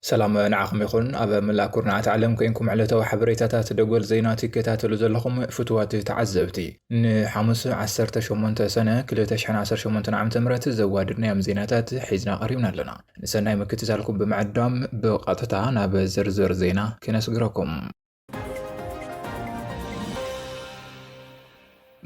ሰላም ንዓኹም ይኹን ኣብ መላእ ኩርናዓት ዓለም ኮንኩም ዕለታዊ ሓበሬታታት ደጎል ዜና ትከታተሉ ዘለኹም ፍትዋት ተዓዘብቲ ንሓሙስ 18 ሰነ 218 ዓ ም ዘዋድድናዮም ዜናታት ሒዝና ቀሪብና ኣለና ንሰናይ ምክትታልኩም ብምዕዳም ብቐጥታ ናብ ዝርዝር ዜና ክነስግረኩም።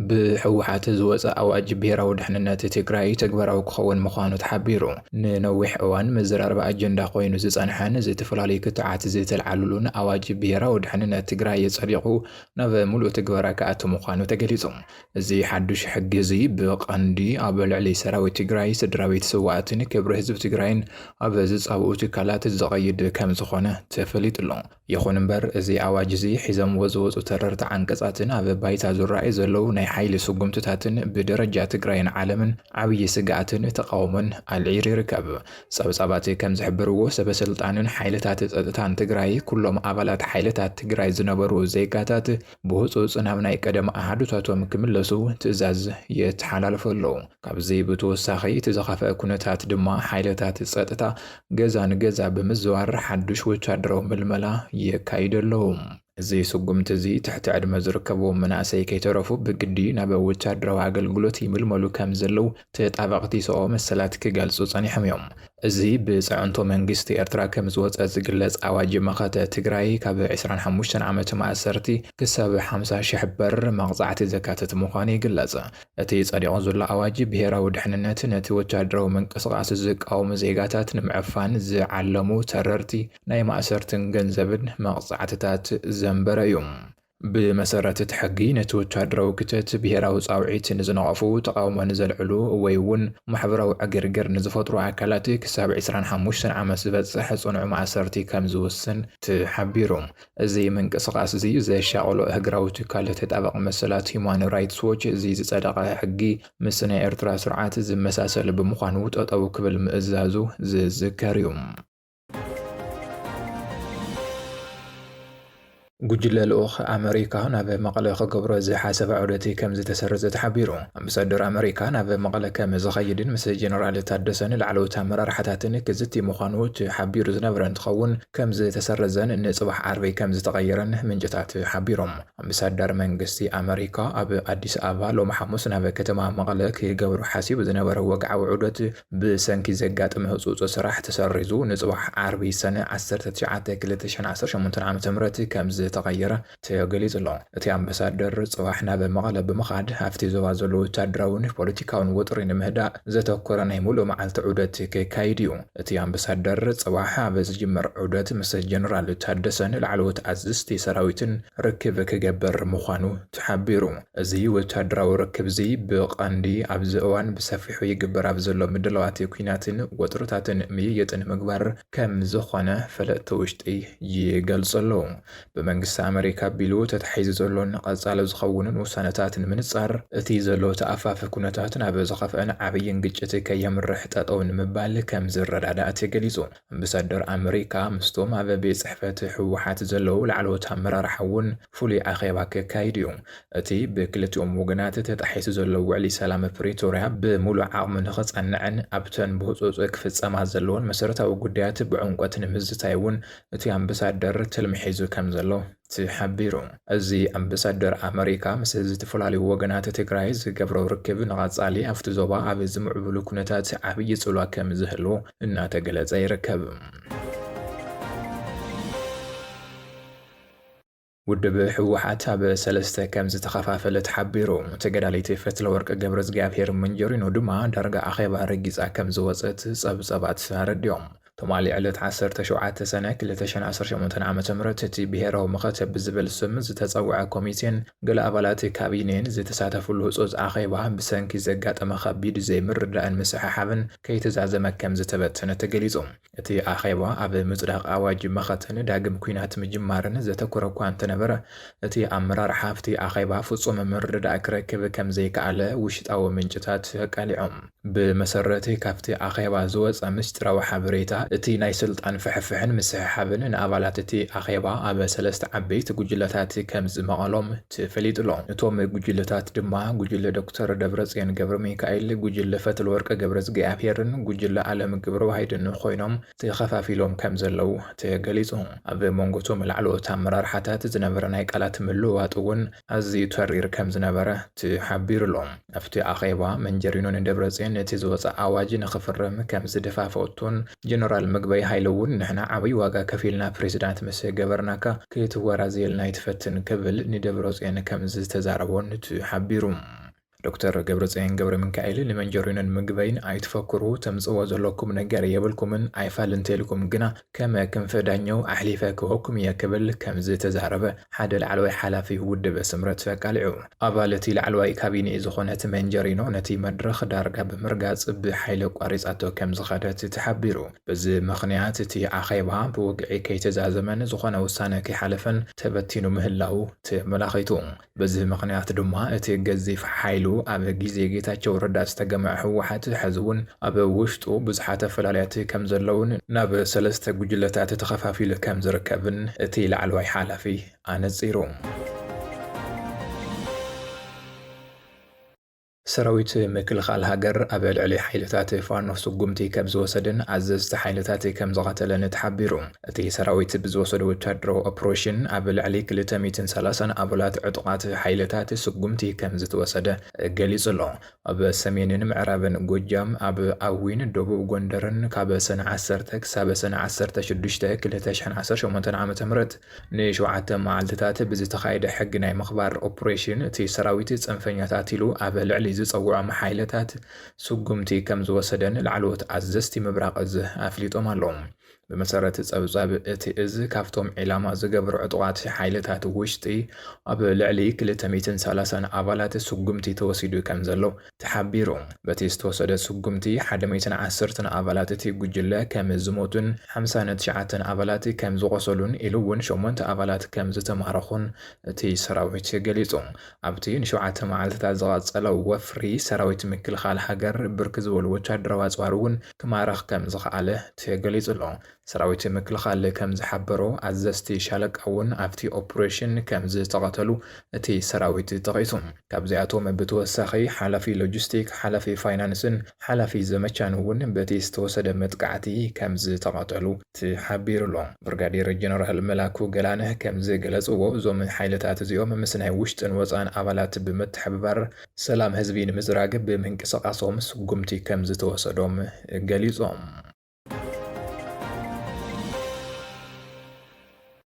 ብህወሓት ዝወፀ ኣዋጅ ብሄራዊ ድሕንነት ትግራይ ተግባራዊ ክኸውን ምዃኑ ተሓቢሩ። ንነዊሕ እዋን መዘራረቢ ኣጀንዳ ኮይኑ ዝፀንሐን ዝተፈላለዩ ክትዓት ዝተልዓልሉን ኣዋጅ ብሄራዊ ድሕንነት ትግራይ ፀዲቑ ናብ ሙሉእ ትግበራ ክኣቱ ምዃኑ ተገሊፁ። እዚ ሓዱሽ ሕጊ እዚ ብቐንዲ ኣብ ልዕሊ ሰራዊት ትግራይ፣ ስድራቤት ስውኣትን ክብሪ ህዝቢ ትግራይን ኣብ ዝፃብኡ ትካላት ዝቐይድ ከምዝኾነ ተፈሊጡ'ሎ። ይኹን እምበር እዚ ኣዋጅ እዚ ሒዘምዎ ዝወፁ ተረርቲ ዓንቀፃትን ኣብ ባይታ ዝረኣዩ ዘለዉ ናይ ሓይሊ ስጉምትታትን ብደረጃ ትግራይን ዓለምን ዓብዪ ስግኣትን ተቓውሞን ኣልዒሉ ይርከብ። ፀብፃባት ከምዝሕብርዎ ሰበስልጣንን ሓይልታት ፀጥታን ትግራይ ኩሎም ኣባላት ሓይልታት ትግራይ ዝነበሩ ዜጋታት ብህፁፅ ናብ ናይ ቀደም ኣሃዱታቶም ክምለሱ ትእዛዝ የተሓላልፉ ኣለዉ። ካብዚ ብተወሳኺ እቲ ዝኸፍኣ ኩነታት ድማ ሓይልታት ፀጥታ ገዛ ንገዛ ብምዝዋር ሓዱሽ ወታደራዊ ምልመላ የካይዱ ኣለዉ። እዚ ስጉምቲ እዚ ትሕቲ ዕድመ ዝርከብዎም መናእሰይ ከይተረፉ ብግዲ ናብ ወታደራዊ ኣገልግሎት ይምልመሉ ከምዘለዉ ተጣበቕቲ ሰብኣዊ መሰላት ክገልጹ ጸኒሖም እዮም። እዚ ብጽዕንቶ መንግስቲ ኤርትራ ከም ዝወጸ ዝግለጽ ኣዋጅ መኸተ ትግራይ ካብ ዕስራን ሓሙሽተን ዓመት ማእሰርቲ ክሳብ ሓምሳ ሽሕ ብር መቕጻዕቲ ዘካትት ምዃኑ ይግለጽ። እቲ ጸዲቑ ዘሎ ኣዋጅ ብሄራዊ ድሕንነት ነቲ ወተሃደራዊ ምንቅስቓስ ዝቃወሙ ዜጋታት ንምዕፋን ዝዓለሙ ተረርቲ ናይ ማእሰርትን ገንዘብን መቕጻዕትታት ዘንበረ እዩ። ብመሰረት እቲ ሕጊ፣ ነቲ ወተሃደራዊ ክተት፣ ብሄራዊ ጻውዒት ንዝነቐፉ፣ ተቓውሞ ንዘልዕሉ ወይ'ውን ማሕበራዊ ዕግርግር ንዝፈጥሩ ኣካላት ክሳብ ዕስራን ሓሙሽተን ዓመት ዝበጽሕ ጽኑዕ ማእሰርቲ ከም ዝውስን ተሓቢሩ። እዚ ምንቅስቓስ'ዚ ዘሻቐሎ እህግራዊ ትካል ተጣባቒ መሰላት ሂዩማን ራይትስ ዎች፣ እዚ ዝጸደቐ ሕጊ ምስ ናይ ኤርትራ ስርዓት ዝመሳሰል ብምዃኑ ጠጠው ክብል ምእዛዙ ዝዝከር'ዩ። ጉጅለ ልኡኽ ኣመሪካ ናብ መቐለ ክገብሮ ዝሓሰበ ዑደትይ ከም ዝተሰረዘ ተሓቢሩ። ኣምባሳደር ኣመሪካ ናብ መቐለ ከም ዝኸይድን ምስ ጀነራል ታደሰን ላዕለዎት ኣመራርሓታትን ክዝቲ ምዃኑ ተሓቢሩ ዝነበረ እንትኸውን ከም ዝተሰረዘን ንፅባሕ ዓርቢ ከም ዝተቐየረን ምንጭታት ሓቢሮም። ኣምባሳዳር መንግስቲ ኣመሪካ ኣብ ኣዲስ ኣበባ ሎሚ ሓሙስ ናብ ከተማ መቐለ ክገብሮ ሓሲቡ ዝነበረ ወግዓዊ ዑደት ብሰንኪ ዘጋጠመ ህጹጽ ስራሕ ተሰሪዙ ንጽባሕ ዓርቢ ሰነ ዓሰርተ ትሽዓተ ክልተ ሽሕን ዓሰርተ ሸሞንተን ዓመተ ምህረት ከምዝተቐየረ ተገሊጹ'ሎ። እቲ ኣምበሳደር ጽባሕ ናብ መቐለ ብምኻድ ኣብቲ ዞባ ዘሎ ወታደራዊን ፖለቲካዊን ወጥሪ ንምህዳእ ዘተኮረ ናይ ምሉእ መዓልቲ ዑደት ከካይድ እዩ። እቲ ኣምበሳደር ጽባሕ ኣብ ዝጅምር ዑደት ምስ ጀነራል ታደሰን ላዕለዎት ኣዝዝቲ ሰራዊትን ርክብ ክገብር ምዃኑ ተሓቢሩ። እዚ ወተሃደራዊ ርክብ'ዚ ብቐንዲ ኣብዚ እዋን ብሰፊሑ ይግበር ኣብ ዘሎ ምድላዋት ኲናትን ወጥርታትን ምይይጥ ንምግባር ከምዝኾነ ፈለጥቲ ውሽጢ ይገልጹ ኣለዉ። ብመንግስቲ ኣመሪካ ኣቢሉ ተታሒዙ ዘሎን ቐጻሊ ዝኸውንን ውሳነታት ንምንጻር፣ እቲ ዘሎ ተኣፋፊ ኩነታት ናብ ዝኸፍኣን ዓብይን ግጭት ከየምርሕ ጠጠው ንምባል ከምዝረዳዳእ ተገሊጹ። ኣምበሳደር ኣመሪካ ምስቶም ኣብ ቤት ጽሕፈት ህወሓት ዘለዉ ላዕለዎት ኣመራርሓ እውን ፍሉይ ኣኼባ ከካይድ እዩ። እቲ ብክልቲኦም ወገናት ተጣሒሱ ዘሎ ውዕሊ ሰላም ፕሪቶርያ ብምሉእ ዓቕሙ ንኽጸንዕን ኣብተን ብህጹጽ ክፍጸማ ዘለወን መሰረታዊ ጉዳያት ብዕምቆት ንምዝታይ እውን እቲ ኣምበሳደር ትልሚ ሒዙ ከምዘሎ ተሓቢሩ። እዚ ኣምበሳደር ኣመሪካ ምስ ዝተፈላለዩ ወገናት ትግራይ ዝገብሮ ርክብ ንቐፃሊ ኣፍቲ ዞባ ኣብ ዝምዕብሉ ኩነታት ዓብዪ ፅሏ ከምዝህሉ እናተገለፀ ይርከብ። ውድብ ህወሓት ኣብ ሰለስተ ከም ዝተኸፋፈለ ተሓቢሩ። ተገዳሊቲ ፈትለወርቅ ገብረእግዚኣብሄር መንጀሪኖ ድማ ዳርጋ ኣኼባ ረጊፃ ከም ዝወፀት ፀብፀባት ኣረዲኦም። ትማሊ ዕለት ዓሰርተ ሸውዓተ ሰነ ክልተ ሽሕን ዓሰርተ ሸሞንተን ዓመተ ምህረት እቲ ብሄራዊ መኸተ ብዝብል ስም ዝተፀውዐ ኮሚቴን ገለ ኣባላት ካቢኔን ዝተሳተፍሉ ህፁፅ ኣኼባ ብሰንኪ ዘጋጠመ ከቢድ ዘይምርዳእን ምስሕሓብን ከይተዛዘመ ከምዝተበተነ ተገሊፁ። እቲ ኣኼባ ኣብ ምፅዳቕ ኣዋጅ መኸተን ዳግም ኲናት ምጅማርን ዘተኮረ እኳ እንተነበረ እቲ ኣመራርሓ ኣብቲ ኣኼባ ፍፁም ምርድዳእ ክረክብ ከምዘይከኣለ ውሽጣዊ ምንጭታት ኣቃሊዖም። ብመሰረቲ ካብቲ ኣኼባ ዝወጸ ምስጢራዊ ሓበሬታ፣ እቲ ናይ ስልጣን ፍሕፍሕን ምስሕሓብን ንኣባላት እቲ ኣኼባ ኣብ ሰለስተ ዓበይቲ ጉጅለታት ከም ዝመቐሎም ተፈሊጡ'ሎ። እቶም ጉጅለታት ድማ ጉጅለ ዶክተር ደብረጽዮን ገብረሚካኤል፣ ጉጅለ ፈትለወርቅ ገብረዝግኣብሄርን ጉጅለ ኣለም ገብረዋሂድን ኮይኖም ተኸፋፊሎም ከም ዘለዉ ተገሊጹ። ኣብ መንጎ'ቶም ላዕለዎት ኣመራርሓታት ዝነበረ ናይ ቃላት ምልውዋጥ'ውን ኣዝዩ ተሪር ከም ዝነበረ ተሓቢሩ'ሎ። ኣብቲ ኣኼባ መንጀሪኖ ንደብረፅዮን ነቲ ዝወፀ ኣዋጅ ንኽፍርም ከም ዝደፋፈኦቶን ጀነራል ምግበይ ሃይለ እውን ንሕና ዓብይ ዋጋ ከፊልና ፕሬዚዳንት ምስ ገበርናካ ክትወራዘየልና ኣይትፈትን ክብል ንደብረፅዮን ከም ዝተዛረቦን ተሓቢሩ። ዶክተር ገብረፅዮን ገብረሚካኤል ንመንጀሪኖን ምግበይን ኣይትፈክሩ ተምፅእዎ ዘለኩም ነገር የብልኩምን ኣይፋል እንተይልኩም ግና ከም ክንፈ ዳኘው ኣሕሊፈ ክህበኩም እየ ክብል ከምዝተዛረበ ሓደ ላዕለዋይ ሓላፊ ውድብ ስምረት ኣቃሊዑ። ኣባል እቲ ላዕለዋይ ካቢኔ ዝኾነት መንጀሪኖ ነቲ መድረኽ ዳርጋ ብምርጋፅ ብሓይሊ ኣቋሪፃቶ ከምዝኸደት ተሓቢሩ። በዚ ምኽንያት እቲ ኣኼባ ብወግዒ ከይተዛዘመን ዝኾነ ውሳነ ከይሓለፈን ተበቲኑ ምህላዉ ተመላኺቱ። በዚ ምኽንያት ድማ እቲ ገዚፍ ሓይሉ ኣብ ግዜ ጌታቸው ረዳ ዝተገመዐ ህወሓት ሐዚ እውን ኣብ ውሽጡ ብዙሓት ኣፈላላያት ከምዘለውን ናብ ሰለስተ ጉጅለታት ተኸፋፊሉ ከምዝርከብን እቲ ላዕለዋይ ሓላፊ ኣነፂሩ። ሰራዊት ምክልኻል ሃገር ኣብ ልዕሊ ሓይልታት ፋኖ ስጉምቲ ከምዝወሰደን ኣዘዝቲ ሓይልታት ከምዝቐተለን ተሓቢሩ። እቲ ሰራዊት ብዝወሰዶ ወታደራዊ ኦፕሬሽን ኣብ ልዕሊ ክልተ ሚእትን ሰላሳን ኣባላት ዕጡቓት ሓይልታት ስጉምቲ ከምዝተወሰደ ገሊፁ ኣሎ። ኣብ ሰሜንን ምዕራብን ጎጃም ኣብ ኣዊን ደቡብ ጎንደርን ካብ ሰነ ዓሰርተ ክሳብ ሰነ ዓሰርተ ሽዱሽተ ክልተ ሽሕን ዓሰርተ ሸሞንተን ዓመተ ምህረት ንሸውዓተ መዓልትታት ብዝተኻየደ ሕጊ ናይ ምኽባር ኦፕሬሽን፣ እቲ ሰራዊት ፅንፈኛታት ኢሉ ኣብ ልዕሊ ዝፀውዖም ሓይልታት ስጉምቲ ከምዝወሰደን ላዕለዎት ኣዘዝቲ ምብራቕ እዝ ኣፍሊጦም ኣለው። ብመሰረት ፀብፃብ እቲ እዝ ካብቶም ዒላማ ዝገበሩ ዕጡቓት ሓይልታት ውሽጢ ኣብ ልዕሊ ክልተ ሚእትን ሰላሳን ኣባላት ስጉምቲ ተወሲዱ ከምዘሎ ተሓቢሩ። በቲ ዝተወሰደ ስጉምቲ ሓደ ሚእትን ዓሰርተን ኣባላት እቲ ጉጅለ ከም ዝሞቱን ሓምሳን ትሽዓተን ኣባላት ከም ዝቖሰሉን ኢሉ እውን ሸሞንተ ኣባላት ከም ዝተማረኹን እቲ ሰራዊት ገሊፁ። ኣብቲ ንሸውዓተ መዓልቲታት ዝቐፀለ ወፍሪ ሰራዊት ምክልኻል ሃገር ብርክት ዝበሉ ወታደራዊ ኣፅዋር እውን ክማርኽ ከም ዝኸኣለ ተገሊፁ ኣሎ። ሰራዊት ምክልኻል ከም ዝሓበሮ፣ ኣዘዝቲ ሻለቃ እውን ኣብቲ ኦፕሬሽን ከም ዝተቐተሉ እቲ ሰራዊት ጠቒሱ። ካብዚኣቶም ብተወሳኺ ሓላፊ ሎጂስቲክ፣ ሓላፊ ፋይናንስን ሓላፊ ዘመቻን እውን በቲ ዝተወሰደ መጥቃዕቲ ከም ዝተቐተሉ ተሓቢሩ'ሎ። ብርጋዴር ጀነራል መላኩ ገላነህ ከም ዝገለጽዎ፣ እዞም ሓይልታት እዚኦም ምስ ናይ ውሽጥን ወጻእን ኣባላት ብምትሕብባር ሰላም ህዝቢ ንምዝራግ ብምንቅስቓሶም ስጉምቲ ከም ዝተወሰዶም ገሊጾም።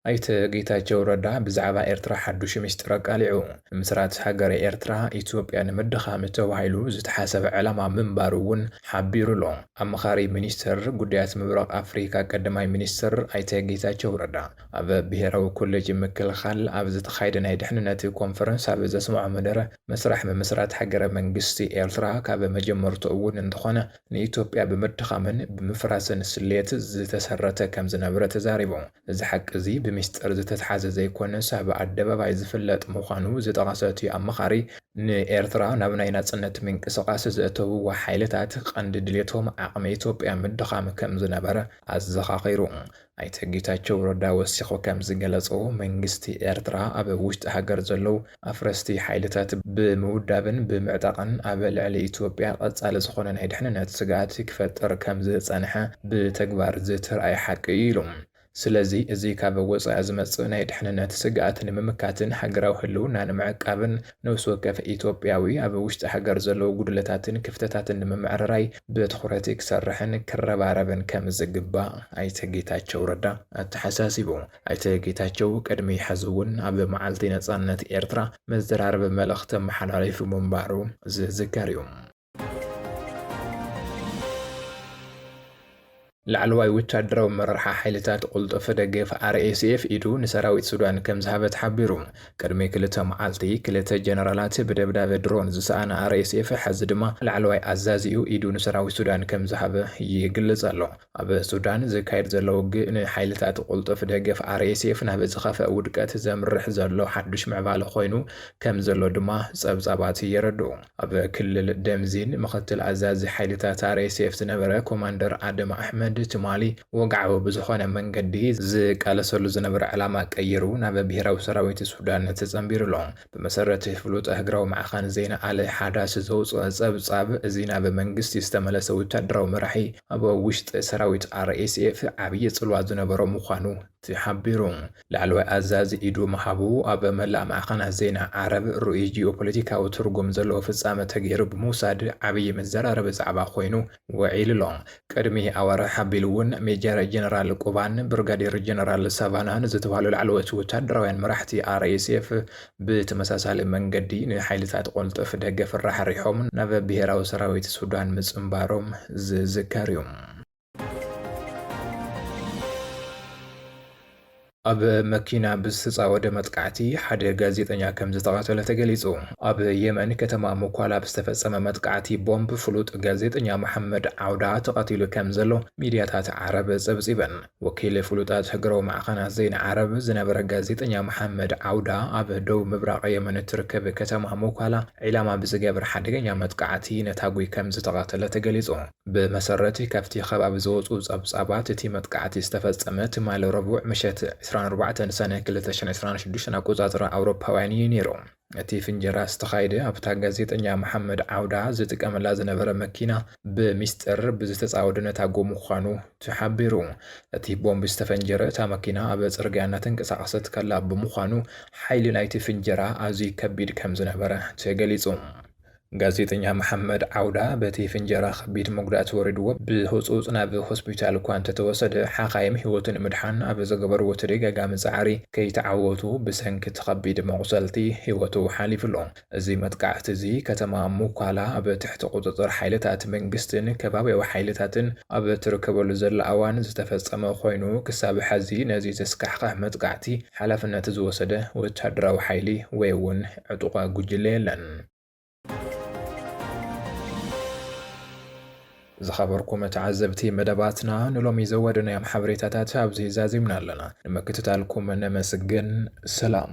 ኣይተ ጌታቸው ረዳ ብዛዕባ ኤርትራ ሓዱሽ ሚስጢር ኣቃሊዑ። ምስራት ሃገረ ኤርትራ፣ ኢትዮጵያ ንምድኻም ተባሂሉ ዝተሓሰበ ዕላማ ምንባሩ እውን ሓቢሩ ኣሎ። ኣማኻሪ ሚኒስተር ጉዳያት ምብራቕ ኣፍሪካ ቀዳማይ ሚኒስትር ኣይተ ጌታቸው ረዳ ኣብ ብሄራዊ ኮሌጅ ምክልኻል ኣብ ዝተኻየደ ናይ ድሕንነት ኮንፈረንስ ኣብ ዘስመዖ መደረ መስርሕ ምምስራት ሃገረ መንግስቲ ኤርትራ ካብ መጀመርትኡ እውን እንተኾነ ንኢትዮጵያ ብምድኻምን ብምፍራስን ስሌት ዝተሰረተ ከም ዝነበረ ተዛሪቡ። እዚ ሓቂ እዚ ብሚስጥር ዝተትሓዘ ዘይኮነስ ኣብ ኣደባባይ ዝፍለጥ ምዃኑ ዝጠቐሰ እቲ ኣማኻሪ፣ ንኤርትራ ናብ ናይ ናጽነት ምንቅስቓስ ዘእተውዋ ሓይልታት ቀንዲ ድሌቶም ዓቕሚ ኢትዮጵያ ምድኻም ከም ዝነበረ ኣዘኻኺሩ። ኣይተ ጌታቸው ረዳ ወሲኾ ከምዝገለፆ መንግስቲ ኤርትራ ኣብ ውሽጢ ሃገር ዘለው ኣፍረስቲ ሓይልታት ብምውዳብን ብምዕጣቕን ኣብ ልዕሊ ኢትዮጵያ ቐፃሊ ዝኾነ ናይ ድሕንነት ስግኣት ክፈጥር ከምዝፀንሐ ብተግባር ዝተርኣየ ሓቂ እዩ ኢሉ። ስለዚ እዚ ካብ ወፃኢ ዝመፅእ ናይ ድሕንነት ስግኣት ንምምካትን ሃገራዊ ህልውና ንምዕቃብን ነብሲ ወከፍ ኢትዮጵያዊ ኣብ ውሽጢ ሃገር ዘለዉ ጉድለታትን ክፍተታትን ንምምዕርራይ ብትኹረት ክሰርሕን ክረባረብን ከምዝግባእ ኣይተ ጌታቸው ረዳ ኣተሓሳሲቡ። ኣይተ ጌታቸው ቅድሚ ሕዚ እውን ኣብ መዓልቲ ነፃነት ኤርትራ መዘራረቢ መልእኽቲ ኣመሓላሊፉ ምንባሩ ዝዝከር እዩ። ላዕለዋይ ወታደራዊ ኣመራርሓ ሓይልታት ቁልጡፍ ደገፍ RSF ኢዱ ንሰራዊት ሱዳን ከም ዝሃበ ተሓቢሩ። ቅድሚ ክልተ መዓልቲ ክልተ ጀነራላት ብደብዳበ ድሮን ዝሰኣነ RSF ሕዚ ድማ ላዕለዋይ ኣዛዚኡ ኢዱ ንሰራዊት ሱዳን ከም ዝሃበ ይግለጽ ኣሎ። ኣብ ሱዳን ዝካየድ ዘሎ ውግእ ንሓይልታት ቅልጡፍ ደገፍ RSF ናብ ዝኸፍኣ ውድቀት ዘምርሕ ዘሎ ሓዱሽ ምዕባለ ኮይኑ ከም ዘሎ ድማ ጸብጻባት የረድኡ። ኣብ ክልል ደምዚን ምኽትል ኣዛዚ ሓይልታት RSF ዝነበረ ኮማንደር ኣደም ኣሕመድ፣ ትማሊ ወግዓዊ ብዝኾነ መንገዲ ዝቃለሰሉ ዝነበረ ዕላማ ቀይሩ ናብ ብሄራዊ ሰራዊት ሱዳን ተጸንቢሩ ኣሎ። ብመሰረት ፍሉጥ ሃገራዊ ማዕኸን ዜና ኣል ሓዳስ ዘውጽኦ ጸብጻብ፣ እዚ ናብ መንግስቲ ዝተመለሰ ወተሃደራዊ መራሒ ኣብ ውሽጢ ሰራዊት RSF ዓብዪ ጽልዋ ዝነበሮ ምዃኑ ተሓቢሩ። ላዕለዋይ ኣዛዚ ኢዱ ምሃቡ ኣብ መላእ ማዕኸናት ዜና ዓረብ ርኡይ ጂኦፖለቲካዊ ትርጉም ዘለዎ ፍጻመ ተገይሩ ብምውሳድ ዓብዪ መዘራረቢ ዛዕባ ኮይኑ ውዒሉ'ሎ። ቅድሚ ኣዋርሕ ኣቢሉ'ውን ሜጀር ጀነራል ቁባን ብርጋዴር ጀነራል ሳቫናን ዝተባህሉ ላዕለዎት ወታደራውያን መራሕቲ RSF ብተመሳሳሊ መንገዲ ንሓይልታት ቁልጡፍ ደገፍ ራሕሪሖም ናብ ብሄራዊ ሰራዊት ሱዳን ምጽንባሮም ዝዝከር'ዩ። ኣብ መኪና ብዝተጻወደ መጥቃዕቲ ሓደ ጋዜጠኛ ከምዝተቐተለ ተገሊጹ። ኣብ የመን ከተማ ሙኳላ ብዝተፈጸመ መጥቃዕቲ ቦምብ ፍሉጥ ጋዜጠኛ መሓመድ ዓውዳ ተቐቲሉ ከምዘሎ ሚድያታት ዓረብ ጸብጺበን። ወኪል ፍሉጣት ሃገራዊ ማዕኸናት ዜና ዓረብ ዝነበረ ጋዜጠኛ መሓመድ ዓውዳ ኣብ ደቡብ ምብራቕ የመን እትርከብ ከተማ ሙኳላ ዒላማ ብዝገበረ ሓደገኛ መጥቃዕቲ ነታጒ ከምዝተቐተለ ተገሊጹ። ብመሰረት ካብቲ ከባቢ ዝወጹ ጸብጻባት፣ እቲ መጥቃዕቲ ዝተፈጸመ ትማሊ ረቡዕ ምሸት ዕስራን ኣርባዕተን ሰነ ክልተ ሽሕን ዕስራን ሽዱሽተን ኣቆጻጽራ ኣውሮፓውያን እዩ ነይሩ። እቲ ፍንጀራ ዝተኻየደ ኣብታ ጋዜጠኛ መሓመድ ዓውዳ ዝጥቀመላ ዝነበረ መኪና ብሚስጥር ብዝተጻወደ ነታጐ ምዃኑ ተሓቢሩ። እቲ ቦምብ ዝተፈንጀረ እታ መኪና ኣብ ጽርግያ እናተንቀሳቐሰት ከላ ብምዃኑ ሓይሊ ናይቲ ፍንጀራ ኣዝዩ ከቢድ ከምዝነበረ ተገሊጹ። ጋዜጠኛ መሓመድ ዓውዳ በቲ ፍንጀራ ከቢድ መጉዳእቲ ወሪድዎ ብህጹጽ ናብ ሆስፒታል እኳ እንተተወሰደ፣ ሓኻይም ህይወቱ ንምድሓን ኣብ ዝገበርዎ ተደጋጋሚ ጻዕሪ ከይተዓወቱ ብሰንኪ እቲ ከቢድ መቑሰልቲ ህይወቱ ሓሊፉ'ሎ። እዚ መጥቃዕቲ'ዚ ከተማ ሙኳላ ኣብ ትሕቲ ቁጽጽር ሓይልታት መንግስቲን ከባብያዊ ሓይልታትን ኣብ እትርከበሉ ዘላ እዋን ዝተፈጸመ ኮይኑ፣ ክሳብ ሕዚ ነዚ ዘስካሕኽሕ መጥቃዕቲ ሓላፍነት ዝወሰደ ወተሃደራዊ ሓይሊ ወይ'ውን ዕጡቓ ጉጅለ የለን። ዝኸበርኩም ተዓዘብቲ መደባትና ንሎሚ ዘወደናዮም ሓበሬታታት ኣብዚ ዛዚምና ኣለና። ንምክትታልኩም ነመስግን። ሰላም